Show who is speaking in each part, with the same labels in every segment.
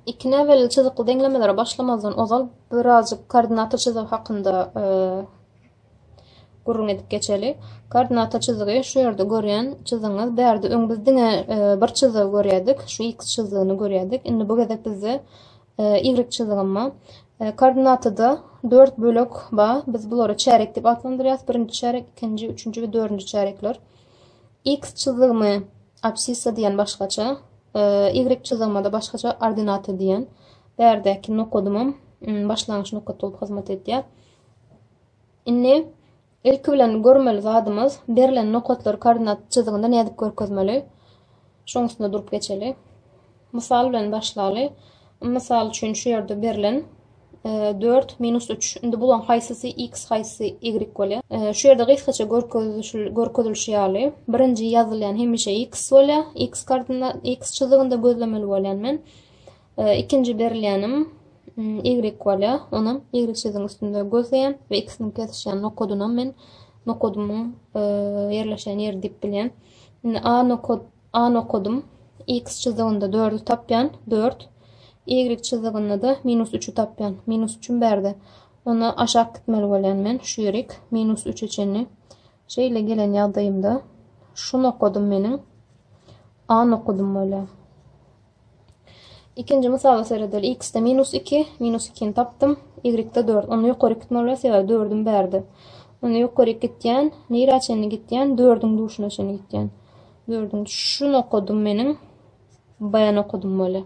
Speaker 1: Iki näbelli çyzykly deňlemelere başlamazdan ozal birazjyk koordinata çyzygy hakynda gürrüň edip geçeli. Koordinata çyzygy şu ýerde görýän çyzygyňyz. Bärde öň biz diňe e, bir çyzygy görýärdik. Şu x çyzygyny görýärdik. Indi bu gezek bizde e, y çyzygym bar. E, koordinatada 4 bölek bar. Biz bulary çärek diýip atlandyrýarys. Birinji çärek, ikinji, üçünji we dördünji çärekler. X çyzygymy Absissa diýen başgaça, ýigrik çyzygmada başgaça ordinata diýen. Bärdäki nokadymam başlangyç nokat bolup hyzmat edýär. Indi ilki bilen görmeli zadymyz berlen nokatlary koordinat çyzygynda nädip görkezmeli? Şoň üstünde durup geçeli. Mysal bilen başlaly. Mysal üçin şu ýerde berlen dört minus üç. Indi bulaň haýsysy x haýsysy y bolýar? Şu ýerde gysgaça görkezilişi ýaly, birinji ýazylýan hemişe x bolýar. X kardynda x çyzygynda gözlemeli bolýan men. Ikinji berilýänim y bolýar. Onam y çyzygyň üstünde gözleýän we x-niň kesişýän nokadynam men nokadymyň ýerleşýän ýeri diýip bilýän. Indi a nokady A-ny okadym. X çyzygynda dördi tapýan, dört. Ýigrik çyzygynda-da minus üçi tapýan. Minus üçim bärde. Onda aşak gitmeli bolýan men, şu ýerik, minus üçe çenli. Şeýle gelen ýagdaýymda, şuny okadym meniň, A-ny okadym bolýar. Ikinji mysala seredeli. X-de minus iki, minus ikini tapdym. Y-de dört. Onda ýokaryk gitmeli bolýar, sebäbi dördüm bärde. Onda ýokaryk gitýän, nirä çenli gitýän? Dördüň duşuna çenli gitýän. Dördüň şu nokadym meniň B nokadym bolýar.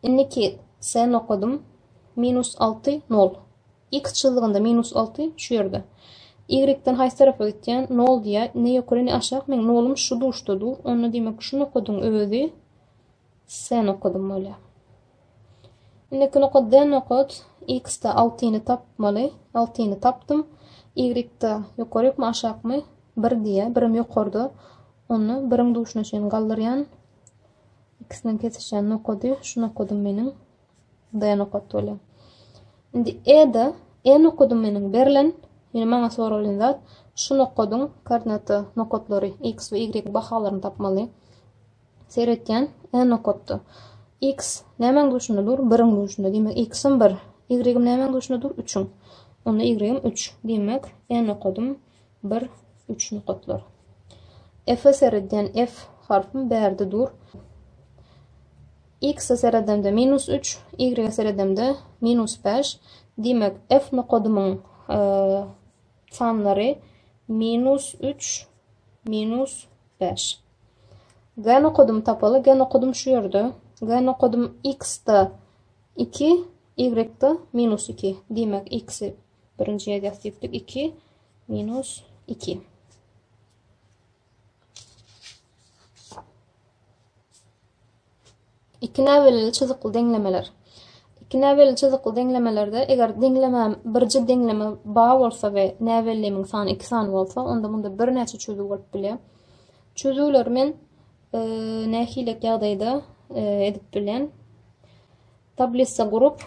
Speaker 1: Indiki S nokadym minus alty, nol. X çyzygynda minus alty şu ýerde. Ýigrekden haýsy tarapa gitýän? Nol diýýär. Ne ýokary, ne aşak. Meň nolum şu duşda dur. Onda diýmek şu nokadyň özi S nokadym bolýar. Indiki nokat D nokat. X-de altyny tapmaly. Altyny tapdym. Y-de ýokarykmy, aşakmy? Bir diýýär. Birim ýokarda. Onda biriň duşuna çenli galdyrýan. X-den kesişýän nokady şu nokadym meniň. D nokat bolýar. Indi E-de E nokady meniň berlen, ýöne maňa soralan zat şu nokadyň koordinata nokatlary X we Y bahalaryny tapmaly. Seretýän E nokatda X nämäň duşunda dur? Biriň duşunda. Diýmek, X-im bir. Y-im nämäň duşunda dur? Üçüň. Onda Y-im üç. Diýmek, E nokadym Bir, üç nokatlar. F-e seredýän F harpym bärde dur. X-e seredemde minus üç, Y-e seredemde minus bäş. Diýmek, F nokadymyň sanlary minus üç, minus bäş. G nokadym tapaly, G nokadym şu ýerde. G nokadym X-da iki, Y-da minus iki. Diýmek, X-i Birinji ýazýas düýplik 2 minus 2. Iki näbelili çyzykly deňlemeler. Iki näbelili çyzykly deňlemelerde eger deňleme birji deňleme ba bolsa we näbelimiň sany iki sany bolsa, onda munda bir näçe çözüw bolup bilýär. Çözüwleri men e, nähili ýagdaýda e, edip bilen. Tablisa gurup,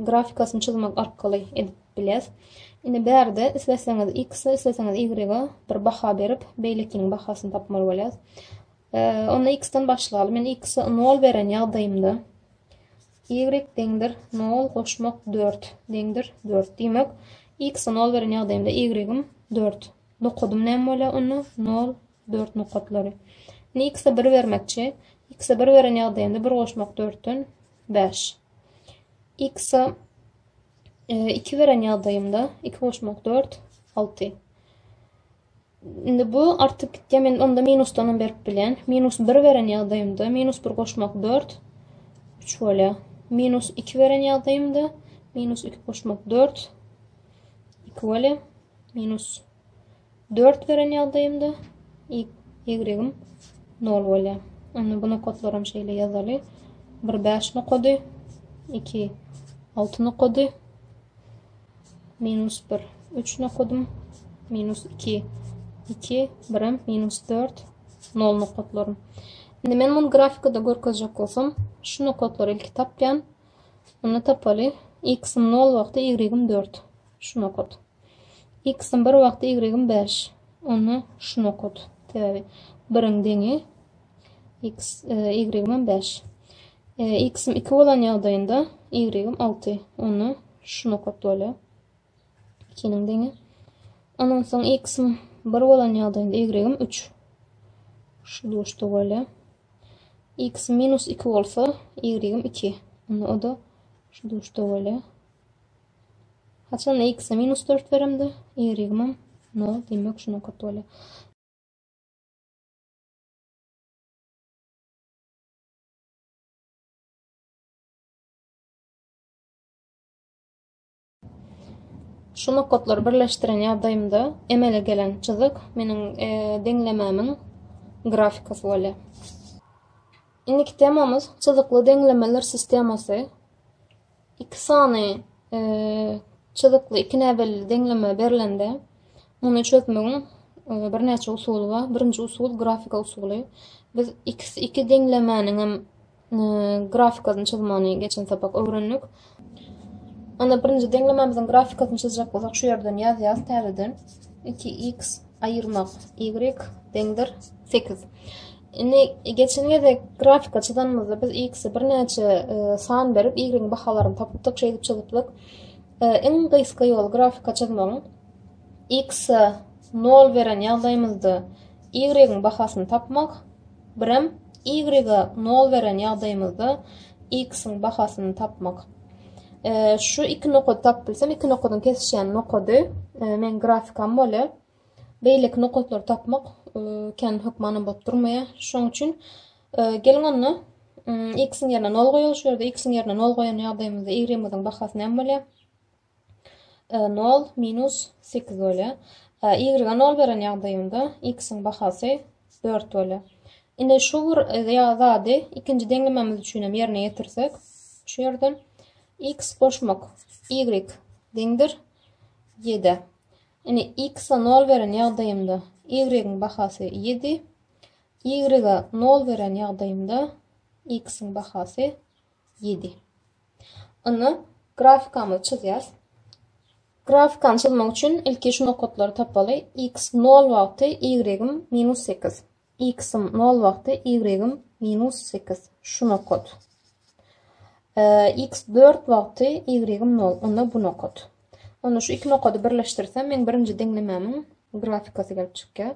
Speaker 1: grafikasyny çyzmak arkaly edip biles. Indi bärde isleseňiz X, isleseňiz Y bir baha berip, beýlekiniň bahasyny tapmaly bolýas. Onda X-den başlaly. Men X-e 0 beren ýagdaýymda Y deňdir 0 goşmak 4 deňdir 4. Diýmek, X-e 0 beren ýagdaýymda Y-im 4. Dokadym näme bolýar? Onda 0 Dört nokatlary. Indi x-e bir bermekçi. X-e bir beren ýagdaýynda bir goşmak dörtden bäş. X-e e, iki beren ýagdaýymda iki goşmak dört, alty. Indi bu artyp gitýär. Men onda minusdan hem berip bilýän. Minus bir beren ýagdaýymda minus bir goşmak dört, üç bolýar. Minus iki beren ýagdaýymda minus iki goşmak dört, iki bolýar. Minus Dört beren ýagdaýymda ýegregim nol bolýar. Onda bu nokatlaram şeýle ýazaly. Bir bäş nokady, iki alty nokady, minus bir üç nokadym, minus iki iki birim, minus dört nol nokatlarym. Indi men muny grafikada görkezjek bolsam, şu nokatlary ilki tapýan. Onda tapaly. X-im nol wagty, ýegregim dört. Şu nokat. X-iň bir wagty Y-iň bäş. Onda şuny okat. Sebäbi biriň deňi X, Y-iň hem bäş. X-im iki bolan ýagdaýynda Y-im alty. Onda şuny okat bolýar. Ikiniň deňi. Ondan soň X-im bir bolan ýagdaýynda Y-im üç. Şu duşda bolýar. X minus iki bolsa, Y-im iki. Onda o da şu duşda bolýar. Haçanda x-e minus dört beremde, y-ymam nol, diýmek şunuň köki bolýar. Şu nokatlary birleşdiren ýagdaýymda emele gelen çyzyk meniň e, deňlemämiň grafikasy bolýar. Indiki temamyz çyzykly deňlemeler sistemasy. Iki sany çyzykly ikinäbelli deňleme berlende, muny çözmegiň birnäçe usuly bar. Birinji usul grafika usuly. Biz iki iki deňlemäniň hem grafikasyny çyzmany geçen sapak öwrendik. Onda birinji deňlemämiziň grafikasyny çyzjak bolsak, şu ýerden ýazýarys täzeden. 2x aýyrmak, y deňdir sekiz. Indi geçen gezek grafika çyzanymyzda biz x-i birnäçe e, san berip y-iň bahalaryny tapypdyk, şeýdip çyzypdyk. E, iň gysga ýol grafika çyzmagyň x-i 0 beren ýagdaýymyzda y-iň bahasyny tapmak, Birem y-a nol beren ýagdaýymyzda x-iň bahasyny tapmak. Şu iki nokady tapypbilsem, iki nokadyň kesişýän nokady meň grafikam bolýar. Beýleki nokatlary tapmak kän hökmanam bolup durmaýar. Şoň üçin geliň onda x-iň ýerine nol goýalyş, şu ýerde x-iň ýerine nol goýan ýagdaýymyzda y-ymiziň bahasy näme bolýar? Nol minus sekiz bolýar. Y-a nol beren ýagdaýymda x-iň bahasy dört bolýar. Indi şu bir zady ikinji deňlememiz üçin hem ýerine ýetirsek, şu ýerden x goşmak y deňdir ýedä. Indi x-a nol beren ýagdaýymda y-iň bahasy ýedi, y-a nol beren ýagdaýymda x-iň bahasy Ýedi. Indi grafikamyzy çyzýarys. Grafikany çyzmak üçin ilki şu nokatlary tapaly. X 0 wagty Y-im minus 8. X-im 0 wagty Y-im minus 8. Şu nokat. X 4 wagty Y-im 0. Onda bu nokat. Onda şu iki nokady birleşdirsem, men birinci deňlemämiň grafikasy gelip çykýar.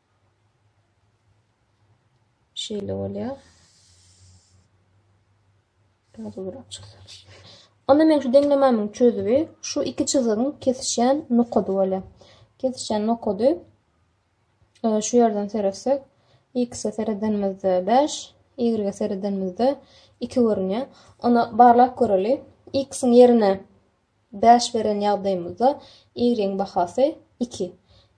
Speaker 1: Şeýle bolýar. Onda men şu deňlemämiň çözübi şu iki çyzygyň kesişýän nokady bolýar. Kesişýän nokady e, şu ýerden seretsek, x-e seredenimizde 5, y-e seredenimizde 2 görünýär. Onda barlap göreli. X-iň ýerine Bäş beren ýagdaýymyzda y-yň bahasy iki.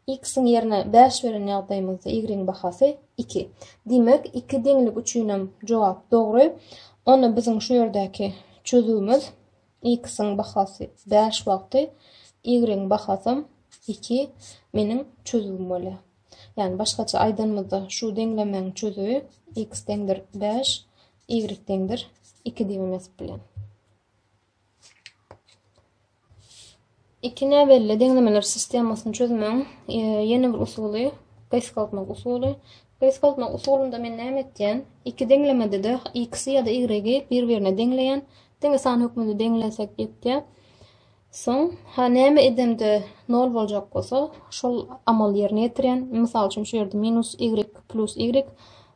Speaker 1: X-iň ýerine bäş beren ýagdaýymyzda y-yň bahasy iki. Diýmek, iki deňlik üçinem jogap dogry. Onda biziň şu ýerdäki çözüwimiz X-iň bahasy bäş wagty, y-yň bahasam iki meniň çözüwim bolýar. Ýagny başgaça aýdanymyzda şu deňlemäň çözüwi X deňdir bäş, y deňdir iki diýip hem ýazyp bilen. Iki näbelli deňlemeler sistemasyny çözmegiň e, ýene bir usuly gysgaltmak usuly. Gysgaltmak usulynda men näme etýän? Iki deňlemede-de x ýa-da y-y bir-birine deňleýän. Diňe san hökmünde deňlesek ýetýär. Soň ha näme edemde 0 boljak bolsa, şol amaly ýerine ýetirýän. Mysal üçin şu ýerde minus y plus y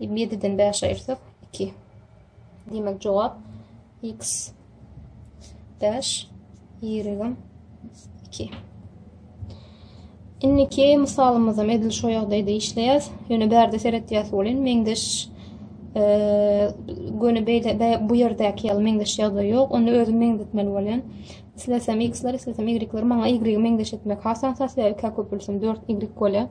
Speaker 1: Ýediden bäşi aýyrsak, iki. Diýmek, jogap x bäş, ýigrigim iki. Indiki mysalymyzam edil şu ýagdaýda işleýäs. Ýöne bärde seretýäs welin meňzeş e, göni beýle bu ýerdäki ýaly meňzeş ýagdaý ýok. Onda özüm meňzetmeli bolýan. Islesem x-ler, islesem y-ler maňa y-i meňzeş etmek hasan sat ýa köpülsin 4 y bolýar.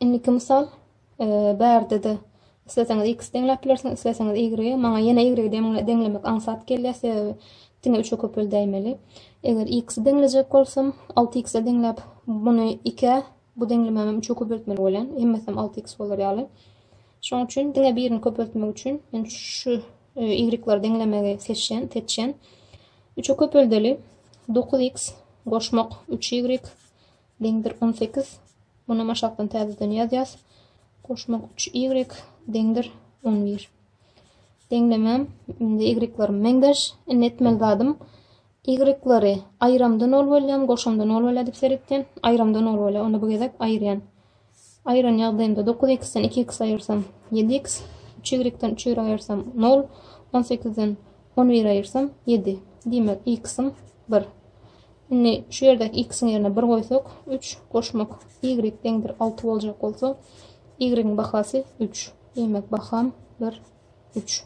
Speaker 1: Indiki mysal, bärde-de isleseňiz x deňläp bilersiňiz, isleseňiz y. Maňa ýene y deňlemek aňsat gelýär, sebäbi diňe üçe köpeldäýmeli. Eger x-i deňlejek bolsam, alty x-e deňläp, muny ikä, bu deňlemem hem üçe köpeltmeli bolýan. Hemmesem alty x bolar ýaly. Şonuň üçin diňe birini köpeltmek üçin men şu e, y-leri deňlemegi seçýän, seçýän. Üçe köpeldeli 9x goşmak 3y deňdir on sekiz Munam aşakdan täzeden ýazýas. Goşmak üç y deňdir on bir Deňlemem indi y-larymy meňzeş. Indi etmeli zadym y-lary aýramda nol bolýam, goşamda nol bolýar diýip seretýän. Aýramda nol bolýar. Onda bu gezek aýyrýan. Aýyran ýagdaýymda dokuz x-den iki x aýyrsam, ýedi x, üç y-den üç y aýyrsam, nol, on sekizden on bir aýyrsam, ýedi. Diýmek, x-im bir. Indi şu ýerdäki x-iň ýerine bir goýsak, üç goşmak y deňdir alty boljak bolsa, y-iň bahasy üç. Diýmek, baham bir, üç.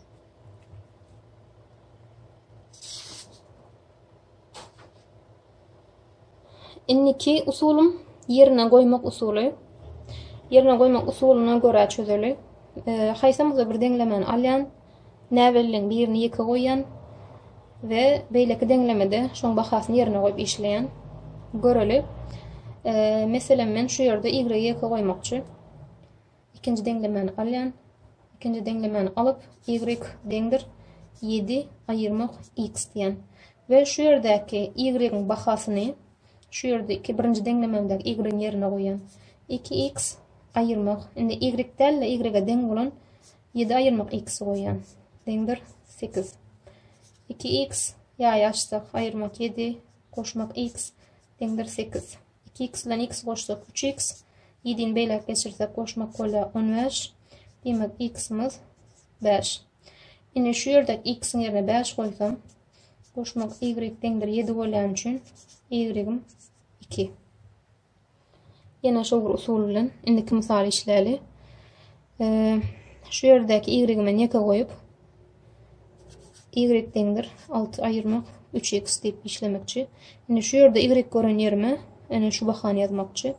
Speaker 1: Indiki usulym ýerine goýmak usuly. Ýerine goýmak usulyna görä çözeli. Haýsamyzda bir deňlemeni alýan, näbelliň birini ýeke goýýan we beýleki deňlemede şoň bahasyny ýerine goýup işleýän. Göreli. Meselem, men şu ýerde y ýeke goýmakçy. Ikinji deňlemäni alýan. Ikinji deňlemäni alyp, y deňdir ýedi aýyrmak x diýýän. We şu ýerdäki y-iň bahasyny şu ýerde iki birinji deňlememdäki y-iň ýerine goýýan. Iki x aýyrmak, indi y däl-de y-e deň bolan ýedi aýyrmak x-i goýýan. Deňdir sekiz. Iki x ýaýy açsak, aýyrmak ýedi, goşmak x deňdir sekiz. Iki iks bilen iks goşsak, üç iks. Ýedini beýläk geçirsek, goşmak bolýar on bäş. Diýmek, iksimiz bäş. Indi şu ýerde iksiň ýerine bäş goýsam, goşmak ýigrik deňdir ýedi bolýany üçin ýigrigim iki. Ýene şol bir usul bilen indiki mysaly işläli. Şu ýerdäki y-me ýeke goýup, y deňdir alty aýyrmak üç x diýip işlemekçi. Indi şu ýerde y gören ýerime ene şu bahany ýazmakçy.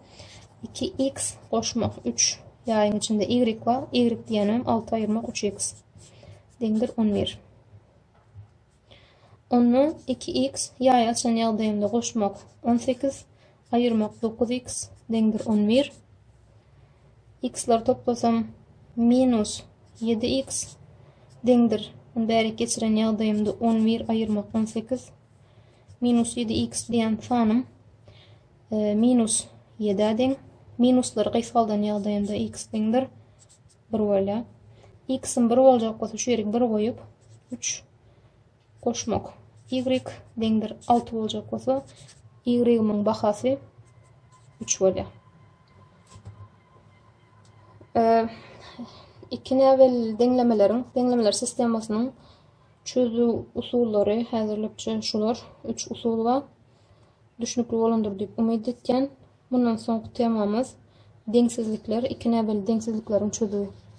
Speaker 1: 2 x goşmak 3 ýaýyň içinde y bar, y diýenem alty aýyrmak üç x deňdir on bir. Ondan iki x ýaý açan ýagdaýymda goşmak on sekiz, aýyrmak dokuz x deňdir on bir. X-lar toplasam minus ýedi x deňdir. Ony bärik geçiren ýagdaýymda on bir aýyrmak on sekiz. Minus ýedi x diýen sanym e, minus ýedä deň. Minuslar gysgaldan ýagdaýynda x deňdir bir bolýar. X-iň bir boljak bolsa şu ýeri bir goýup, 3 goşmak. Y deňdir 6 boljak bolsa, Y-iň bahasy 3 bolýar. Iki näbel deňlemeleriň, deňlemeler sistemasynyň çözüw usullary häzirlikçe şular. Üç usul bar. Düşnükli bolandyr diýip umyt etýän. Mundan soňky temamyz, deňsizlikler, iki näbelli deňsizlikleriň çözüwi.